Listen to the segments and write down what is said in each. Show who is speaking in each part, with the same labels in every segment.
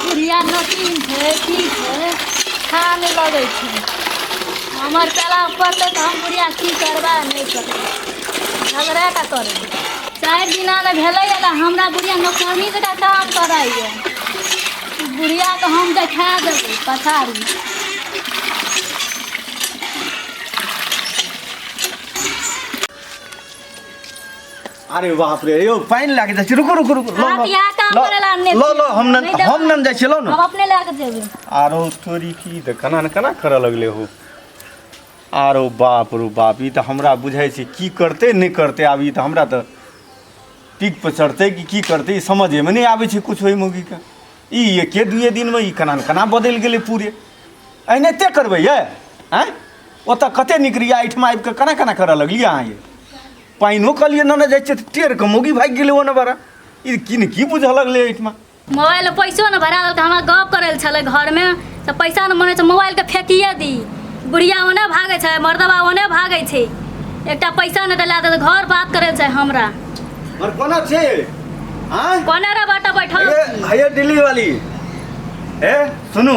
Speaker 1: बुढ़िया नोटिन छै की छै खा नहि लगै छै हमर पेला पड़तै तऽ हम बुढ़िया की करबै नहि करबै झगड़ा का करबै चारि दिना ने भेलैए तऽ हमरा बुढ़िया नौकरनी जकाँ काम करैए बुढ़ियाके हम देखा देबै पछाड़ी अरे बाप रे यौ पानि लागि जाइ छै रुकू रुकू रुकू लो, आप लो, यहाँ काम लो, करैला आनने लो लो हम नहि देबै। हम नहि जाइ छी लो हम ने अपने लए कऽ जेबै आरो तोरी की तऽ केना ने केना करऽ लगले हो आरो बाप रो बाप ई तऽ हमरा बुझाइ छै की करतै नहि करतै आब ई तऽ हमरा तऽ पीक पर चढ़तै कि की करतै ई समझेमे नहि आबै छै किछु ओहि मौगीके ई एके दुए दिनमे ई केना ने केना बदलि गेलै पूरे एहने ते करबै ये आँय ओतऽ कते निकरिया एहिठाम आबि कऽ केना केना करऽ लगलियै अहाँ ये पानिओ कहलियै ने जाइ छै टेर के मौगी भागि गेलै ओने बड़ा ई की ने की बुझऽ लगलै एहिठमा मोबाइल में पैसो न भरा देलकै हमरा गप करे छले घर में तो पैसा न मने मोबाइल के फेंकिए दी बुढ़िया ओने भागे छै मर्दबा ओने भागे छै एकटा पैसा न डला दे घर बात करे छै हमरा और कोना छै हां कोने रे बाटा बैठल है दिल्ली वाली ए सुनू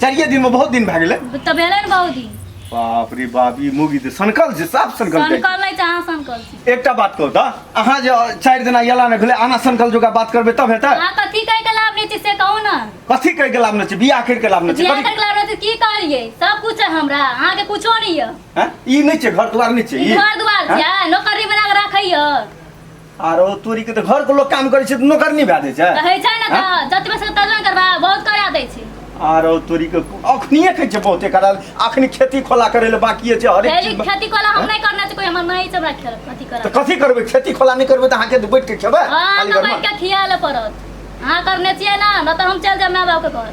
Speaker 1: चारिये दिन में बहुत दिन भए गेलै तऽ भेलै ने बहुत दिन बाप रे बाप ई मुगी तऽ सनकल छै साफ सनकल छै सनकल नहि छै अहाँ सनकल छी एकटा बात कहू तऽ अहाँ जे चारि दिना यला नहि भेलै अहाँ सनकल जोगा बात करबै तब हेतै अहाँ कथी कहि कऽ लाभ नहि छै से कहू ने कथी कहि के लाभ नहि छै बियाह करि के लाभ नहि छै बियाह कथी- करके लाभ नहि छै की कहलियै सब कुछ है हमरा अहाँके कुछो नहि यऽ हैं? ई नहि छै घर दुआर नहि छै ई घर दुआर छै नौकरी बना कऽ राखै यऽ आरो तोरी के तऽ घर के लोग काम करै छै तऽ नौकर नहि भए जाइ छै तऽ होइ छै ने तऽ जतबे से ततबे ने करबा बहुत करा दै छै आरो तोरी के अखनिए कहै छै बहुते कराल अखनी खेती खोला करै लए बाकिए छै हरेक खेती चीज खेती कोला हम नहि करना छै कोई हमर माई से हमरा खेल अथी तऽ करत कथी करबै खेती खोला नहि करबै तऽ अहाँके तऽ बैठ के खेबै हाँ खाली हमरा घरमे बैठ के खिया ले पड़त अहाँ करने छियै ना ना तो हम चल जाब माय बाप के घर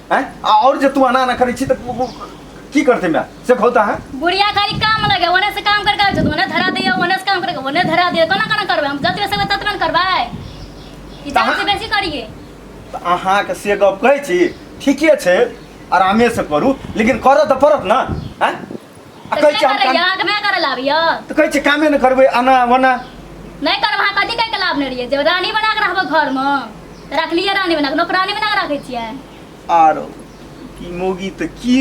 Speaker 1: हैं आ और जे तू आना ना करै छी त उ- उ- की करते मैं से खोता है बुढ़िया खाली काम लगे ओने से काम करके आबै छै ओने धरा दियो ओने से काम करके ओने धरा दियो कोना कोना करबै हम जतबे से ततबे ने करबै ई जान से बेसी करिए त अहाँ के से गप कहै छी ठीके छै आरामे से करू लेकिन करऽ त पड़त ना हैं आ कहै छै हम काम आगमे करे लाभ यऽ तऽ कहै छै कामे नहि करबै आना वना नहि करब अहाँ कथी कहिके लाभ नहि रहियै जब रानी बना कऽ रहबै घरमे तऽ रखलियै रानी बना कऽ नौकरानी बना कऽ राखै छियै आरो की मोगी तऽ की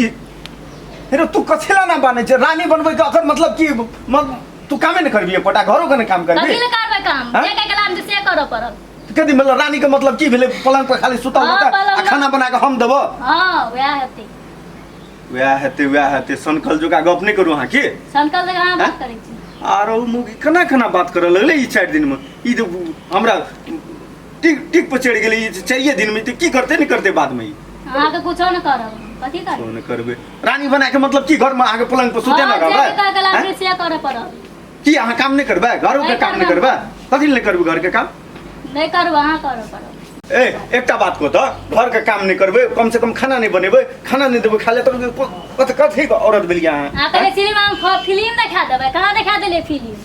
Speaker 1: हेरो तू कथी ला ना बनै छै रानी बनबै के अखन मतलब की मत तू कामे नहि करबी एकोटा घरो के नहि काम कथी करबी लए करबै काम हँ? जे कहिके लाभ देतै से करऽ पड़त तऽ कथी मतलब रानी के मतलब की भेलै पलंग पर खाली सुतल हँ, रहतै पलंग आ पर- खाना बना कऽ हम देबो हँ वएह हेतै वएह हेतै वएह हेतै सनकल जोका गप नहि करू अहाँ की सनकल जगह अहाँ बात करै छी आर ओ मुँह केना केना बात करऽ लगलै ई चारि दिनमे ई जे हमरा टिक टिक पर चढ़ि गेलै ई जे चारिए दिनमे तऽ की करतै नहि करतै बादमे ई अहाँ तऽ कुछो नहि करब कथी करब किछो नहि करबै रानी बनाके मतलब की घरमे अहाँके पलंग पर सुते हाँ, नहि जे भी कहके रहबै लागतै आँय? से करऽ पड़त की अहाँ काम नहि करबै घरोके नहीं काम नहि करबै। करबै कथी लए नहि करबै घरके काम नहि करू अहाँ करू करू ए एकटा बात को तऽ घर के काम नहीं करबे कम से कम खाना नहीं बनेबे खाना नहीं देबे खाले तऽ कत कथी के औरत भेलिया अहाँ अहाँ कहले फिल्म हम फ- फिल्म देखा देबै कहाँ देखा देलियै फिल्म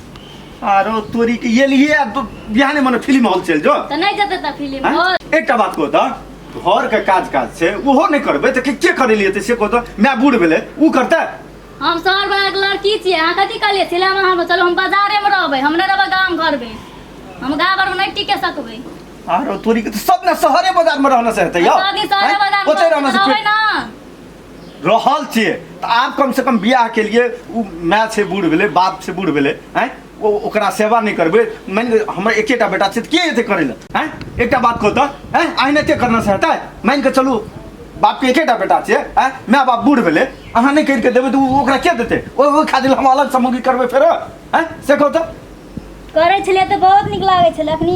Speaker 1: आरो तोरी के ये लिए आ तो बिहाने मने फिल्म हॉल चल जो तऽ नहि जेतै तऽ फिल्म हाँ? हॉल एकटा बात को तऽ घर के काज काज छै ओहो नहीं करबे तऽ के के करे लिए तऽ से को तऽ मैं बूढ़ भेले ऊ करते हम शहर बला के लड़की छियै अहाँ कथी कहलियै सिनेमा हॉल में चलो हम बाजारे में रहबै हम नहि रहबै गाम घर में हम गाम घर में नहि टिके सकबै आरो तोरी के तो सब ना शहरे बाजार में रहना से हेतै यौ सब दिन शहरे बाजार ओते में रहना से रहबै फेर ना रहल छियै तऽ आब कम से कम बियाह के लिए उ माय से बूढ़ भेलै बाप से बूढ़ भेलै हैं ओ ओकरा सेवा नहि करबै मानि लिअ हमर एकेटा बेटा छै तऽ के एतै करै लए हैं एकटा बात कहू तऽ हैं आइ नहि एते करना से हेतै मानि कऽ चलू बापके एकेटा बेटा छियै हैं माय बाप बूढ़ भेलै अहाँ नहि करिके देबै तऽ ओ- ओकरा के देतै ओहि ओहि खातिर हम अलग सामग्री करबै फेर आँय से कहू तऽ करै छलियै तऽ बहुत नीक लागै छलै अखनी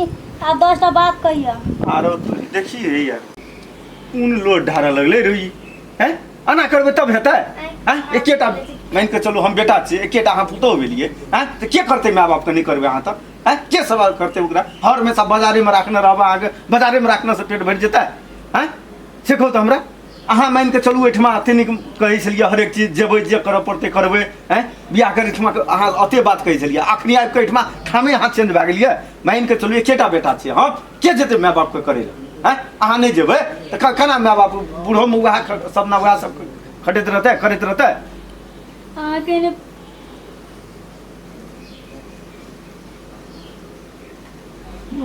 Speaker 1: आब दस टा बात कहियऽ आरो तू देखिए यार कोन लोड ढारऽ लगलै रे ई हैं एना करबै तब हेतै हैं एकेटा मानि कऽ चलू हम बेटा छियै एकेटा अहाँ पुतहु भेलियै हैं तऽ के करतै माय बापके नहि करबै अहाँ तब हैं के सवाल करतै ओकरा हर हमेशा बाजारेमे राखने रहबै अहाँके बाजारेमे राखनेसँ पेट भरि जेतै हैं से कहू तऽ हमरा अहाँ मानि कऽ चलू एहिठमा एते नीक कहै छलियै हरेक चीज जेबै जे करऽ पड़तै करबै हैं बियाह करै एहिठमा के अहाँ एते बात कहै छलियै अखनी आबि कऽ एहिठमा ठामे अहाँ चेंज भए गेलियै मानि कऽ चलू एकेटा बेटा छियै हम के जेतै माय बापके करै लए हैं अहाँ नहि जेबै तऽ क- केना माय बाप बूढ़ोमे उएह ख- सपना उएह सब खटैत रहतै करैत रहतै अहाँके ने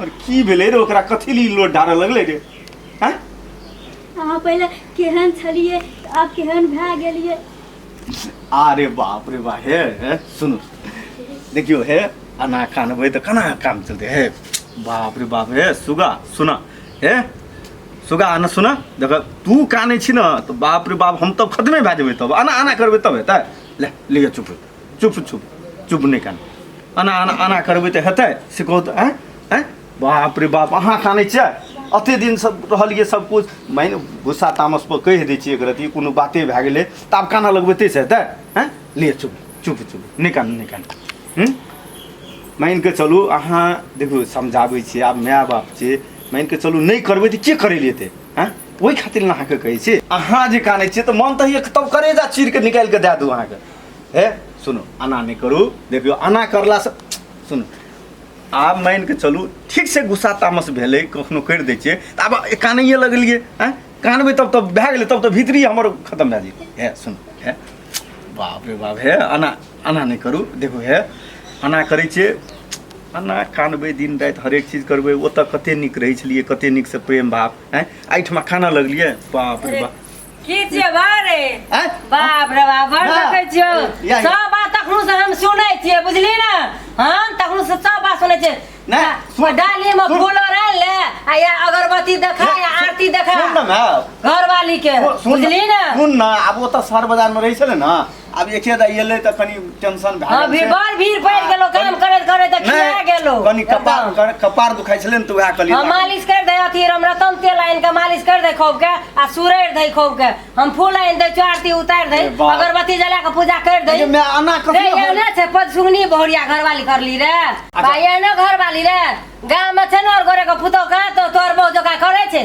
Speaker 1: और की भेले रे ओकरा कथी ली लोड डारे लगले रे हैं अहाँ पहिले केहन छलिए आब केहन भए गेलिए अरे बाप रे बा हे हे सुनु देखियो हे अना कानबे तो कना काम चलते हे बाप रे बाप हे सुगा सुना हे सुगा आना सुना देख तू काने छी ना तो बाप रे बाप हम तब खतमे भए जेबै तब आना आना करबै तब हेतै ले लिअ चुप चुप चुप चुप नहि कान एना एना एना करबै तऽ हेतै से कहू तऽ आँय आँय बाप रे बाप अहाँ कानै छियै अते दिन सब रहलियै सब कुछ मानि गुस्सा तामस पर कहि दै छियै एक रति कोनो बाते भए गेलै तऽ आब कानऽ लगबै ताहिसँ हेतै आँय ले चुप चुप चुप नहि कान नहि कान हूँ मानि कऽ चलू अहाँ देखू समझाबै छियै आब माय बाप छियै मानि कऽ चलू नहि करबै तऽ के करै लेतै आँय ओहि खातिर ने अहाँके कहै छी अहाँ जे कानै छियै तऽ मन तऽ होइए तब करेजा चीर कऽ निकालि कऽ दए दू अहाँके हे सुनू आना नहि करू देखियौ आना करलासँ सुनू आब मानि कऽ चलू ठीक से गुस्सा तामस भेलै कखनो करि दै छियै तऽ आब कानैए लगलियै आँय कानबै तब तब भए गेलै तब तऽ भीतरी हमर खतम भए जेतै हे सुन हे बाप रे बाप हे आना आना नहि करू देखू हे आना करै छियै आना कानबै दिन राति हरेक चीज करबै ओतऽ कते नीक रहै छलियै कते नीकसँ प्रेम भाव आँय एहिठमा कानऽ लगलियै बाप रे बाप की छियै बारे आँय? बाप रे बाप बड़ ना। देखै छियौ या, या। सब बात तखनो से हम सुनै छियै बुझली ने हम तखनो से सब बात सुनै छियै ना, आ, सुन। डाली में सुन। फूल रहल ले आ या अगरबत्ती देखा या आरती देखा सुन न माय घरवाली के सुन न, बुझली ने सुन न अब ओतऽ शहर बजार में रहै छलै न आब एके दा एलै तऽ कनि टेंशन भए हाँ गेल भी छै। बड़ भीड़ पड़ि गेलो काम करैत करैत तऽ खिया नहि, गेलो कनि कपार एकदम। कर- कपार दुखाइ छलै ने तऽ उएह कहलियै हाँ मालिश कर दे अथी हम रतन तेल आनि के मालिश कर दे खूब के आ सुरैर दे खूब के हम फूल आनि दे चार ती उतारि दे ए बाप। अगरबत्ती जला के पूजा कर दे अरे, मैं आना रे कखनो ये ने छै पद सुगनी बहुरिया घरवाली करली रे भाई ये ने घरवाली रे गाम में छै ने और गोरे के पुतौ कहाँ तो तोर बहु जोका करे छै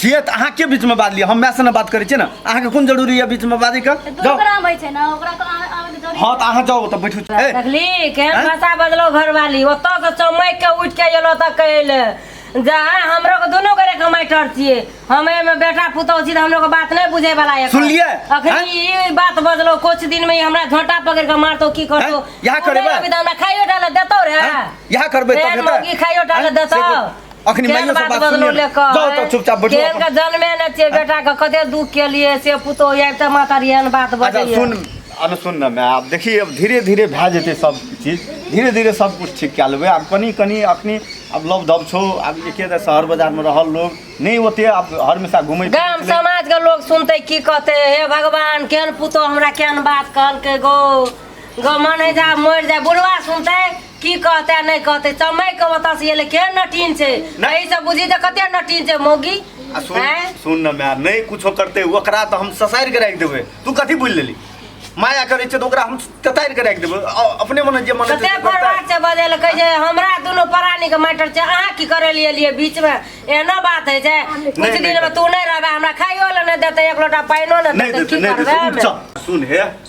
Speaker 1: छियै तऽ अहाँ के बीच में बाजलियै हम माय से ने बात करै छियै ने अहाँ के कोन जरूरी है बीच में बाजै के तऽ तू जाउ ओकरा आबै छै ने ओकरा तऽ आबै- आबै के जरूरी हँ तऽ अहाँ जाउ तऽ बैठू ए, देखली केहन आँय? भाषा बदलो घरवाली ओतऽ से चमैक के उठि के एलो तऽ कहले जा हमरो के दुनू गोरे के माइटर छियै हमे में बेटा पुतौह छी तऽ हमरो के बात नहीं बुझे वाला है सुनलियै? अखनी आँय? ई बात बदलो कुछ दिन में ई हमरा झोंटा पकड़ के मारतो की करतो आँय? इएह करेबै? अभी तऽ हमरा खाइयो डाले देतो रे आँय? इएह करबै तब केहन हेतै? मौगी खाइयो डाले आँय? देतो से अखनी केहन माइयो से बात बात बदलो सुनिए ले कह जाओ तो चुपचाप बैठो केहन के जन्मे ने छियै बेटा के कते दुख के लिए से पुतो आबि तऽ माता रे एहन बात अच्छा बजैया सुन अब सुन ना मैं आप देखिए अब धीरे धीरे भए जेतै सब चीज धीरे धीरे सब कुछ ठीक कए लेबै आब कनी कनी अखनी अब लव दब छौ आब एके तऽ शहर बाजारमे रहल लोग नहि ओते आब हर हमेशा घुमै गाम समाज के लोग सुनते की कहते हे भगवान केहन पुतो हमरा केहन बात कहलकै गो गो मन है जा मरि जाए बुढ़वा सुनते की कहते नहि कहते समय के बता से एले के नटीन छै नहि। एहि से बुझी त कते नटीन छै मौगी आ सुन हैं? सुन न माय नहि कुछो करते ओकरा तऽ हम ससारि के राखि देबै तू कथी बुझि लेली माया करै छै तऽ ओकरा हम ततारि के राखि देबै अ- अपने मने जे मने छै कते से करतै। बर्बाद छै बदल कहै छै हमरा दुनू प्राणी के मैटर छै अहाँ की करे लिए लिए बीच में एहनो बात है छै कुछ नहि, दिन में नहि। तू नहीं रहबे हमरा खाइयो ले नहीं देते एक लोटा पानियो नहीं नहीं देते देतै की नहीं करबे देतै हमे? चल सुन हे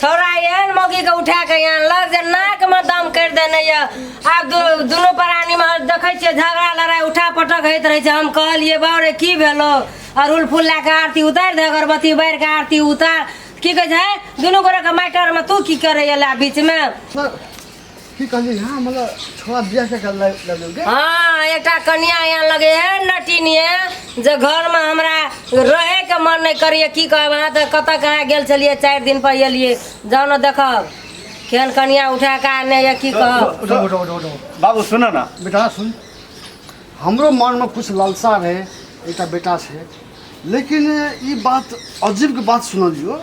Speaker 1: छौड़ा एहन मौकीके उठा कऽ यहाँ लग जे नाकमे दम करि देने यऽ आब दु- दुनू प्राणीमे देखै छियै झगड़ा लड़ाइ उठा पटक होइत रहै छै हम कहलियै बाउ रे की भेलो अड़हुल फूल लए कऽ आरती उतारि दे अगरबत्ती बारि कऽ आरती उतार की कहै छै दुनू गोरेके मैटरमे तू की करैए लए बीचमे की कहली हाँ मतलब छोड़ा बिया के कर लग लग के हाँ एकटा कनिया यहाँ लगे है नटिनिए जे घर में हमरा रहे के मन नहीं करिए की कहब अहाँ तो कत कहाँ गेल छलिए चार दिन पर एलिए जाओ न देखब केहन कनिया उठा के आने ये की कहब उठो उठो उठो उठो बाबू सुनो ना बेटा सुन हमरो मन में कुछ लालसा रहे एकटा बेटा से लेकिन ई बात अजीब के बात सुनलियो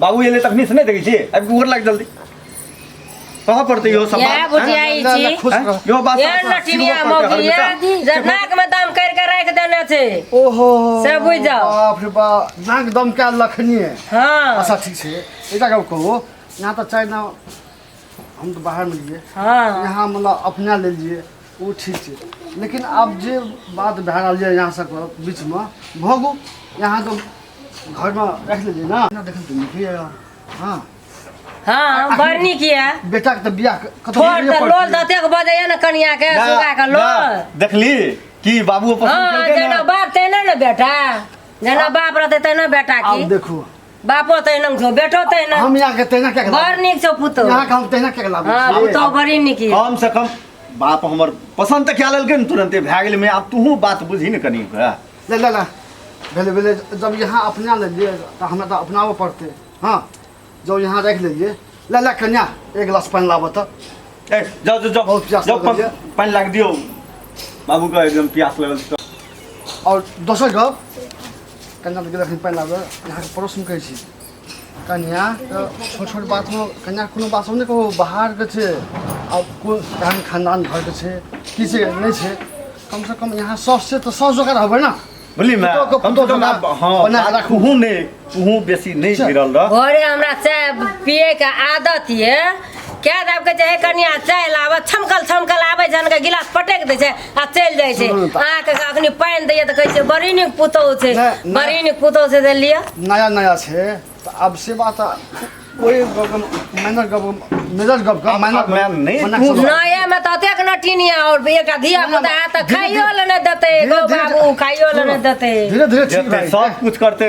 Speaker 1: बाबू एले तखनी से नहीं देखै छी अब गोर लाग जल्दी कहाँ पड़ते यो सब क्या बुझिया ई ना, ना, छी खुश रहो। यो बात ये सब सब लठिनिया सिरवा पर मौगी हर बेटा। ये जनाक में दम कर के रख देने छे ओहो से बुझ जाओ। बाप रे बाप नाक दम क्या लखनी है हाँ अच्छा ठीक छै एकटा गप कहू यहाँ तऽ चाय ना हम तऽ बाहर में लिए हाँ यहाँ मतलब अपना ले लिए ओ ठीक छै लेकिन आब जे बात भए रहल यऽ यहाँ सबके बीचमे भोगू यहाँ तो घरमे राखि लेलियै ने एना देखल तऽ नीके यऽ हँ हाँ बड़ नीक ये बेटाके तऽ बियाह कतहु थोड़ होइए तऽ पड़तै। लोल दतेक बजैया ने कनिया के ना, सुगा के ना, लोल देखली कि बाबू पसंद हाँ केलकै जेना ना बाप तेना ने बेटा जेना बाप रहते तेना बेटा आब की देखू बापो तहिना छौ बेटो तहिना हम यहाँ के तहिना क्या बड़ नीक छौ पुतौ यहाँ के हम तहिना क्या लाभ हाँ पुतौ बड़ी नीक ये कम से कम बाप हमर पसंद तक क्या ललके न तुरंते भए गेल में आब तू बात बुझी न कनी के ले ले ले भेले भेले जब यहाँ अपना ले लिए तो हमें तो अपनाबो पड़ते हाँ जब यहाँ रख ले लिए ले ले कन्या एक गिलास पानी लाबो तो ए जाओ जाओ जाओ बहुत प्यास जाओ लगल ये। पा- पानी लाग दियो बाबू का एकदम प्यास लगल छै। और दोसर गप कन्या के रखनी पानि लाबे अहाँके प्रश्न कहै छी कन्या तऽ छोट छोट बातमे कन्या कोनो बातमे नहि कहू बाहरके छै आ कोन केहन खानदान घरके छै की छै नहि छै कमसँ कम यहाँ सौस छै तऽ सौस जगह रहबै ने बुझली मैं पुतोह के- कम से पुतोह कम जकाँ आप- हाँ बना के राखू। तूहूँ नहीं तूहूँ बेसी नहीं गिरल रह घरे हमरा चाय पिए के आदत ये कए दाब के चाहे कनिया चलि आबऽ छमकल छमकल आबै छै अहाँके गिलास पटक दै छै आ चलि जाइ छै सुनू तऽ- अहाँके अखनी पानि दैया तऽ कहै छै बड़ी नीक पुतहु छै नहि, नहि। बड़ी नीक पुतहु छै से लिअ नया नया छै तऽ आब से बात कोई मैनर गप मेजर गप का मैनर अब मैं नहीं मना पूछ- करो। नया में तऽ अतेक नटिनिया और एकटा धिया पुता है तऽ खाइयो ले नहि देतै गौ बाबू खाइयो ले नहि देतै धीरे धीरे ठीक जेते भाई सब कुछ करते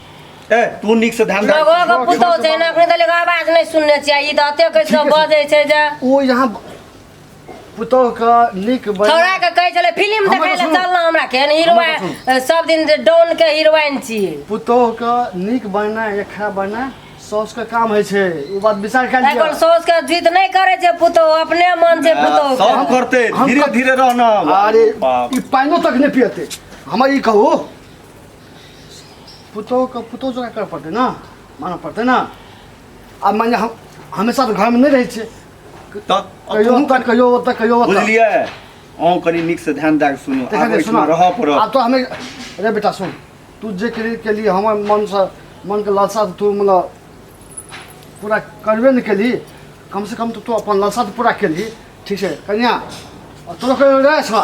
Speaker 1: ए तू नीक से ध्यान लगो राख के पुतौ छै ना अखने तले आवाज नहि सुनने छियै ई तऽ अते कैसे ठीक छै। बजै छै जे ओ यहाँ पुतोह का नीक बन थोड़ा के कहै छलै फिल्म हमर देखै लए सुनू। चल ना हमरा के हमर हीरोइन सब दिन जे डॉन के हीरोइन छी पुतोह का नीक बनना या खराब बनना सौस का काम है छै ओ बात विचार कर एकर लिया सौस के जिद नहि करै छै पुतौ अपने मन छै पुतौ के सब करते हम धीरे कर- धीरे रहना अरे बाप। ई पानियो तक नहीं पियते हमर ई कहू पुतोहके पुतोह जकाँ करऽ पड़तै ने मानऽ पड़तै ने आ मानि लिअ हम हमेशा तऽ घरमे नहि रहै छियै तऽ कहियो तू ओतऽ कहियो ओतऽ कहियो ओतऽ बुझलियै अहूँ कनि नीकसँ ध्यान दए कऽ सुनू देखा आब दे, एहिठमा सुना। रहऽ पड़त आब तो हमें अरे बेटा सुन तू जे के लिए, के लिए हमर मन से मन के लालसा से तू मतलब पूरा करबे नहीं केली कम से कम तो तू अपन लालसा तो पूरा केली ठीक है कन्या और तोरो कहियो रहे छवा